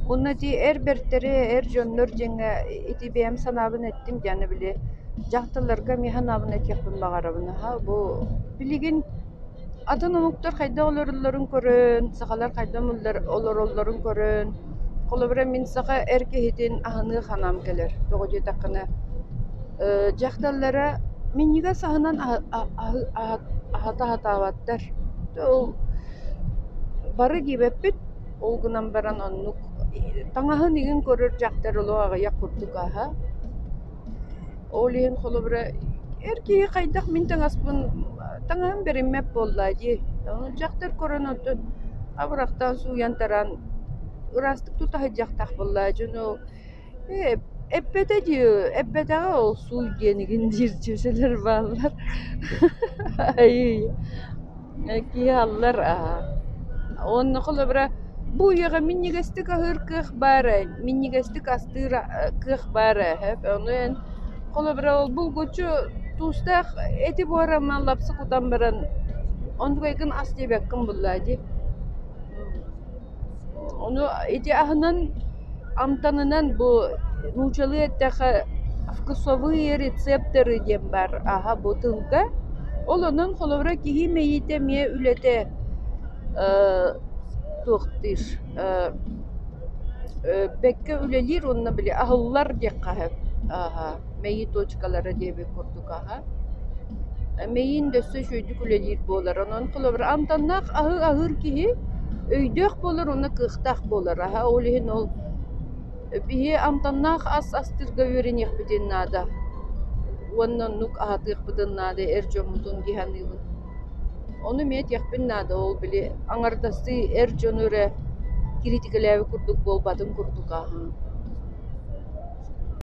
Уонна дии эр бэртэри, эр дьоннор дьиҥэ ити бэйэм санаабын эттим диэни били дьахталларга эмиэ санаабын этиэхпин баҕарабын аһа бу билигин атын омуктар хайдах олороллорун көрөн, сахалар хайдах олороллорун көрөн, холобура мин саха эр киһитин аһыныы санаам кэлэр. Тоҕо диэтэххинэ э дьахталлара минньигэс аһынан аһата аһатаабаттар. Бары диэбэппит, ол гынан баран оннук таҥаһын игин көрөр дьахтар олох аҕыйах курдук аһа. Ол иһин холобура эр киһи хайдах мин таҥаспын таҥаһым бэриммэт буоллаа дии. Ону дьахтар көрөн отут абырахтаан сууйан таран ыраастык тутаһыдьахтах буоллаа дьону Э, эппэтэ дии, эппэтэҕэ ол сууй диэнигин диир дьиэсэлэр бааллар. Айыы, э, киэһаллар аа. Уонна холобура, бу үйэҕэ минньигэстик аһыыр кыах баар ээ, минньигэстик астыыр э, кыах баар ээ, ону эн холобура ол булгучу туустаах эти буораммын лапса кутан баран онтукайгын ас диэбэккин буллаа дии. Ону ити аһынан, амтанынан бу нуучалыы эттэхэ вкусовые рецепторы диэн баар аһа бу тылга. Ол онон холобура киһи мэйиитэ эмиэ үлэтэ ээ туохтуур ээ бэккэ үлэлиир уонна били аһыллар диэххэ сөп ааһа. мэйии точкалара диэбит курдук аһа. Мэйиин өссө үчүгэйдик үлэлиир буолар. Онон холобур, амтаннаах аһы аһыыр киһи өйдөөх буолар уонна кыахтаах буолар аһа. Ол иһин ол биһи амтаннаах ас астыырга үөрэниэхпитин наада уонна оннук аһатыахпытын наада эр дьоммутун киһи аныыбын. Ону эмиэ этиэхпин наада. Ол били аҥардастыы эр дьону эрэ кириитикэлээбит курдук буолбатын курдук аһаан.